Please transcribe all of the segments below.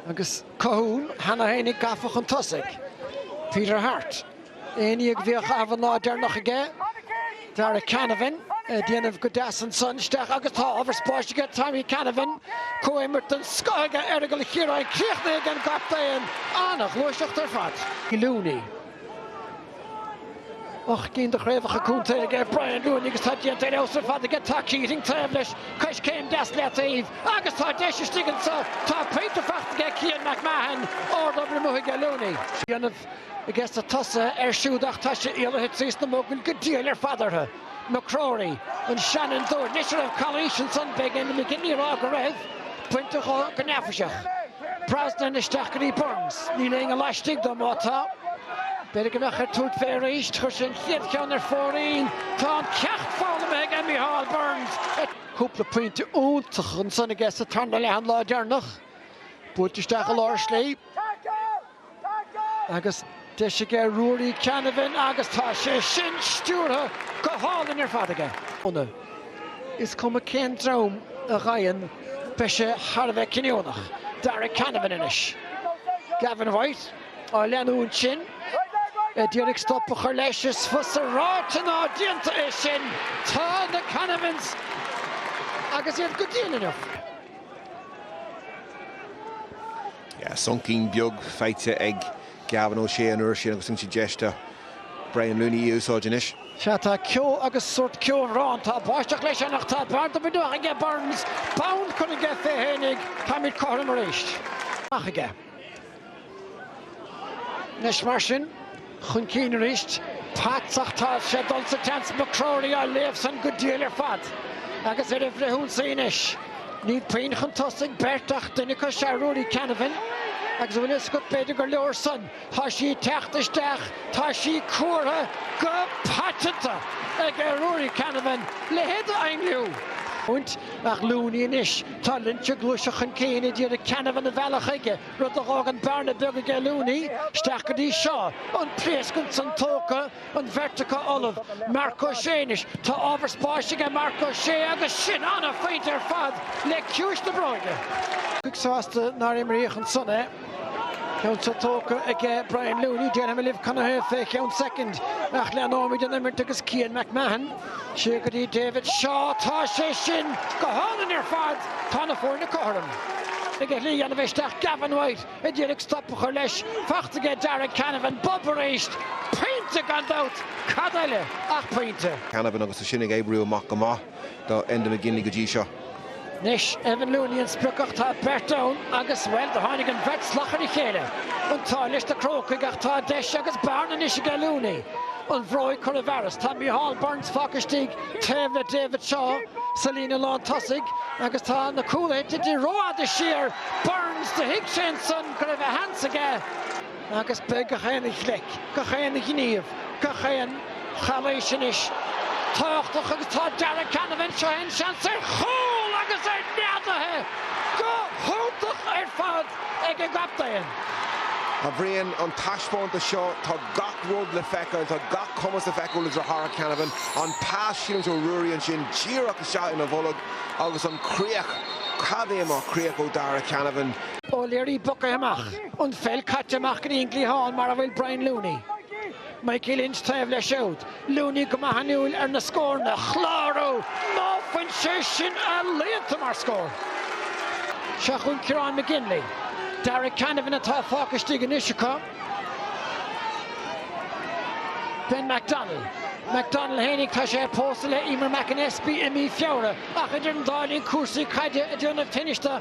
Agus Colhoun cheana féinig gafa chun tosaigh, Peter Harte, aon ní a bheadh an lá deireanach aige, Darragh Canavan ag déanamh go deas ansan isteach agus tá ábhar spáis aige, Tommy Canavan, comhimirt den scoth aige Aireagal Chiaráin críochnaithe ag an gcaptaen. An-ghluaiseacht ar fad. Looney. Ocht gcinn de chraobhacha contae aige Brian Looney agus tá déanta ar fheabhas ar fad aige. Tá Keating taobh leis, coiscéim deas le taobh agus tá deis istigh anseo. Tá pointe faighte aige ag Cian McMahon, ardobair amuigh aige Looney. Fíorannamh aiges na tosaithe air siúd ach tá sé éalaithe trís na mogaill go diail ar fad orthu. McCrory, an seanfhondúir. Anois an raibh calaois ansan, beidh Enda McGinley ag rá go raibh, bainte dhó go neafaiseach. Brosnan isteach go dtí Burns. Níl éinne laistigh dó, má tá. B'fhéidir go mbeadh air tabhairt fé arís. Chuir sé an chéad cheann ar fóraoil. Tá an ceacht foghlamaithe aige, Micheál Burns. Cúpla pointe iontacha ansan aige sa tarna leath an lá deireanach. Buailte isteach i lár slí. Agus deis aige Ruairí Canavan agus tá sé sin stiúrtha go hálainn ar fad aige. Is cuma cén dream a gheibheann, beidh sé thar a bheith cinniúnach. Darragh Canavan anois. Gavin White á leanúint sin, a d'iarraidh stop a chur leis. Is fusa ráite ná déanta é sin. Tá na Canavans agus iad go dian anocht. Soncín beag faighte ag Gavin O'Shea an uair sin agus an deis do Brian Looney í a úsáid anois. Sea, tá ceo agus sórt ceobhrán. Tá báisteach leis anocht. Tá barr do bhinn aige Burns. Bonn curtha aige fé fhéinig. Táimid cothrom arís. Anois mar sin. chun cinn arís. Potts, ach tá sé dul sa tseans. McCrory á léamh san go diail ar fad agus ar an bhfrithionsaí anois. Níl puinn chun tosaigh beirt ach duine acu is ea Ruairí Canavan agus an bhfuil a fhios agat, b'fhéidir gur leor san. Tá sí ag teacht isteach, tá sí cuartha go paiteanta ag Ruairí Canavan a leithéid d'ainliú iontach. Looney anois, tá linnte gluaiseacht chun cinn a d'iarraidh Canavan a mhealladh chuige. rud a dh'fhágann bearna beag aige Looney, isteach go dtí Shaw, an pléascadh san tógtha, an bheirt acu ullamh, Marc Ó Sé anois, tá ábhar spáis aige Marc Ó Sé agus sin an-phointe ar fad le ciumhais na bróige. Cic sásta nár imríodh ansan é, ceann san tógtha aige Brian Looney, déarfaidh mé libh canathaobh fé cheann soicind ach leanóimid an imirt agus Cian McMahon, Siar go dtí David Shaw. Tá sé sin go hálainn ar fad. Tá na foirne cothrom. Ag a shlí a dhéanamh isteach Gavin White a d'iarraidh stop a chur leis. Faighte aige Darragh Canavan. Bob arís. Pointe gan dabht. Cad eile ach pointe. Canavan agus é sin ag oibriú amach go maith do Enda McGinley go dtí seo. Anois, Evan Looney an sprioc ach tá beirt ann agus, bhuel, do tháinig an bheirt salach ar a chéile. An t-ádh leis na Crócaigh ach tá deis agus bearna anois aige Looney an bhróig cur i bhfearas. Tá Micheál Burns fágtha istigh taobh le David Shaw sa líne lán tosaigh agus tá na cúlaithe tite rófhada siar. Burns, do thuig sé ansan go raibh a sheans aige. Agus beidh gach aon ghleic, gach aon ghníomh, gach aon chalaois anois tábhachtach agus tá Darragh Canavan, seo é an seans ar chúl agus é neadaithe go hiontach ar fad ag an gcaptaen. A Bhriain, an taispeántas seo, tá gach rud le feiceáil, tá gach cumas le feiceáil i Darragh Canavan, an pas ealaíonta ó Ruairí ansin díreach isteach ina bholg agus an chríoch, cad é mar chríoch ó Darragh Canavan. O'Leary bogtha amach. an pheil caite amach go dtí an gcliathán mar a bhfuil Brian Looney, Mikey Lynch taobh leis siúd, Looney go maith inniúil ar na scóranna a chlárú! Ná fuil sé sin ealaíonta mar scór? Seo chugainn Ciarán McGinley. Darragh Canavan atá fágtha istigh anois acu. Ben McDonnell. McDonnell fhéinig tá sé pósta le Eimear McAnespie i mí Feabhra ach idir an dá linn cúrsaí caide ag déanamh tinnis dó.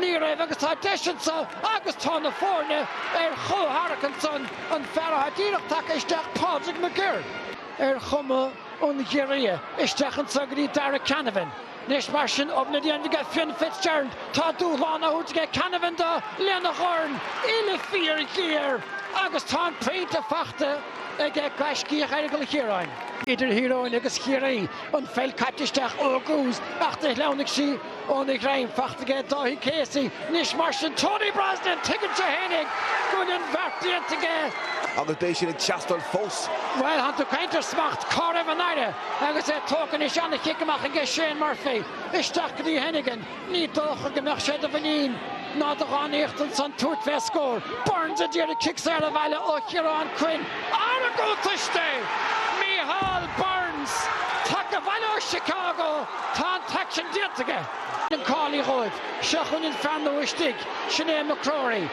Ní raibh agus tá deis anseo agus tá na foirne ar chomhtharrac ansan an fear atá díreach tagtha isteach Pádraig McGirr ar chuma an ghiorria isteach anseo go dtí Darragh Canavan. Anois mar sin obair le déanamh aige Fionn Fitzgerald tá dúshlán á thabhairt aige Canavan dó lena dhorn uille fíorghéar agus tá an pointe faighte aige gaiscíoch Aireagal Chiaráin. Idir Thír Eoghain agus Chiarraí an pheil caite isteach ó thús ach do shleamhnaigh sí. Óna ghreim, faighte aige Dáithí Casey anois mar sin Tony Brosnan, tuigeann sé fhéinig go bhfuil an bheart déanta aige. Agus beidh sin ag teastáil fós. Bhuel, thánn tú ag caint ar smacht, cá raibh an aire agus é tógtha anois an-chic amach aige Shane Murphy isteach go dtí Hennigan, ní dócha go mbeadh sé do mhuinín ná do dhánaíocht ansan tabhairt fé scór. Burns a d'iarraidh cic saor a bhailiú ó Chiarán Quinn, argóint aisti! Micheál Burns, tagtha abhaile ó Chicago. Tá an t-aicsean déanta aige Eoin Kelly dhóibh. Seo chugainn an fear nua istigh, sin é McRory,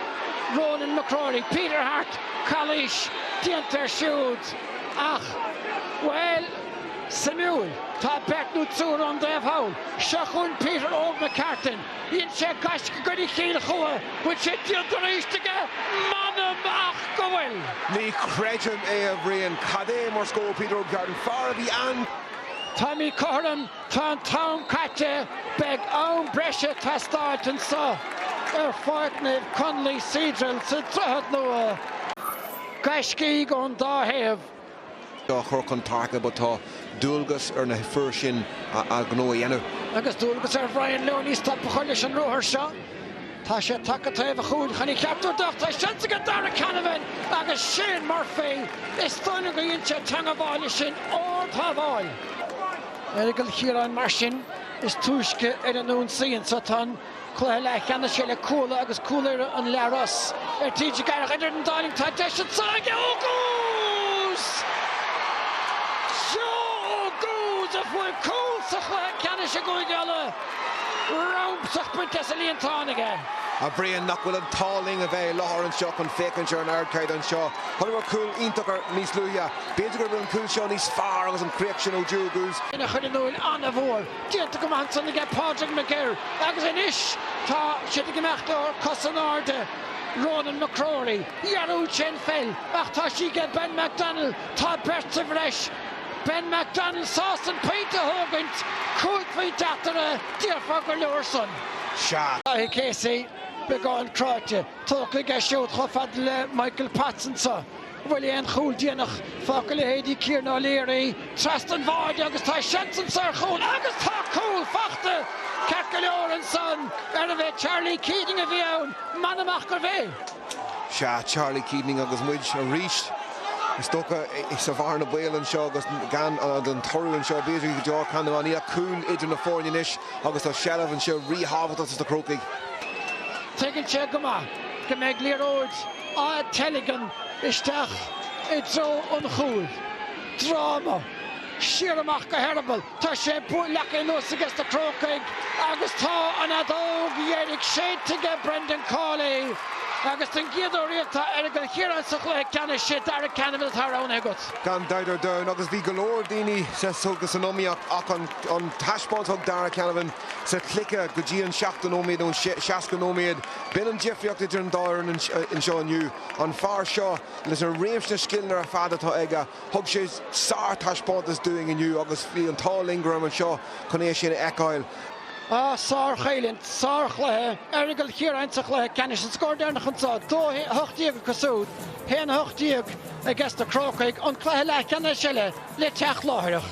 Ronan McRory, Peter Harte, calaois déanta air siúd ach, bhuel, suimiúil, tá beirt nó triúr ann dóibh thall. Seo chugainn Peter Óg McCartan, dhein sé gaisce i gcoinne Chill Chua, bhfuil sé déanta arís aige? M'anam ach go bhfuil! Ní chreidim é, a Bhriain. Cad é mar scór Peter Óg McCartan, fear a bhí an. Táimid cothrom, tá an t-am caite, beidh am breise ag teastáilt anseo ar Pháirc Naomh Conlaoí Cedral sa Droichead Nua. Gaiscígh ón dá thaobh á chur chun páirce ach tá dualgas ar na fir sin an gnó a dhéanamh. Agus dualgas ar Bhrian Looney stop a chur leis an ruathar seo. Tá sé tagtha taobh an chúil chun an cheart úd ach tá seans aige Darragh Canavan agus Shane Murphy. Is dóigh liom gur dhein sé teagmháil leis sin, ard-shábháil. Aireagal Chiaráin mar sin is túisce ar an ionsaí anseo, tá an cluiche leathcheannais eile, Cuala agus Cúil Irra An Leathros ar TG4. Idir an dá linn tá deis anseo ag Joe Oguz! Joe Oguz a fuair cúl sa chluiche ceannais i gCúige Uladh. Rabhadh bainte as an líontán aige. A Bhriain, nach bhfuil an t-ádh linn a bheith i láthair anseo chun féachaint ar an ardchaid anseo. Fuaireamar cúl iontach air níos luaithe. B'fhéidir go bhfuil an cúl seo níos fearr agus an chríoch sin ó Joe Oguz. Ina chuid an úill an-mhór. Déanta go maith ansan aige Pádraig McGirr agus anois tá siad ag imeacht ar cos in airde Ronan McRory. Dhearúd sé an pheil ach tá sí aige Ben McDonnell. Tá beirt sa bhreis Ben McDonnell sásta an pointe a thógaint, cúig phointe eatarthu, déarfá gur leor san. Daithí Casey beagán cráite, tógtha aige siúd chomh fada le Michael Potts anso. An bhfuil aon chúl déanach fágtha i leithéidí Kieran O'Leary trasna an bháid agus tá seans anso ar chúl agus tá cúl fachta ceart go leor ansan arbh é Charlie Keating a bhí ann, m'anam ach gurbh é. Sea, Charlie Keating agus muid arís, is dócha, sa bhearna bhaoil anseo agus gan an toradh anseo, b'fhéidir, go deo ar Conn Iománaí ach cúl idir na foirne anois agus tá seilbh anseo ríthábhachtach dos na Crócaigh. Tuigeann sé go maith go mbeidh liathróid á teilgean isteach i dtreo an chúil. Dráma. Siar amach go heireaball. Tá sé buailte anuas ages na Crócaigh agus tá an fheadóg dheiridh séidte aige Brendan Cawley agus den gcéad uair riamh tá Aireagal Chiaráin sa chluiche ceannais. Is é Darragh Canavan atá roghnaithe agat. gan dabht ar domhan, agus bhí go leor daoine san iomaíocht ach an taispeáint a thug Darragh Canavan sa chluiche go dtí an 70 nóiméad nó 60 nóiméad, b'in an difríocht idir an dá fhoireann anseo inniu. An fear seo, leis an réimse scileanna ar fad atá aige, Thug sé sár-taispeántas dúinn inniu agus bhí an t-ádh linn go rabhamar anseo chun é sin a fheiceáil. Ah, sár-choimhlint, sár-chluiche, Aireagal Chiaráin sa chluiche ceannais, an scór deireanach anseo, 2-18 acu súd, 1-18 ages na Crócaigh, an cluiche leathcheannais eile le teacht láithreach.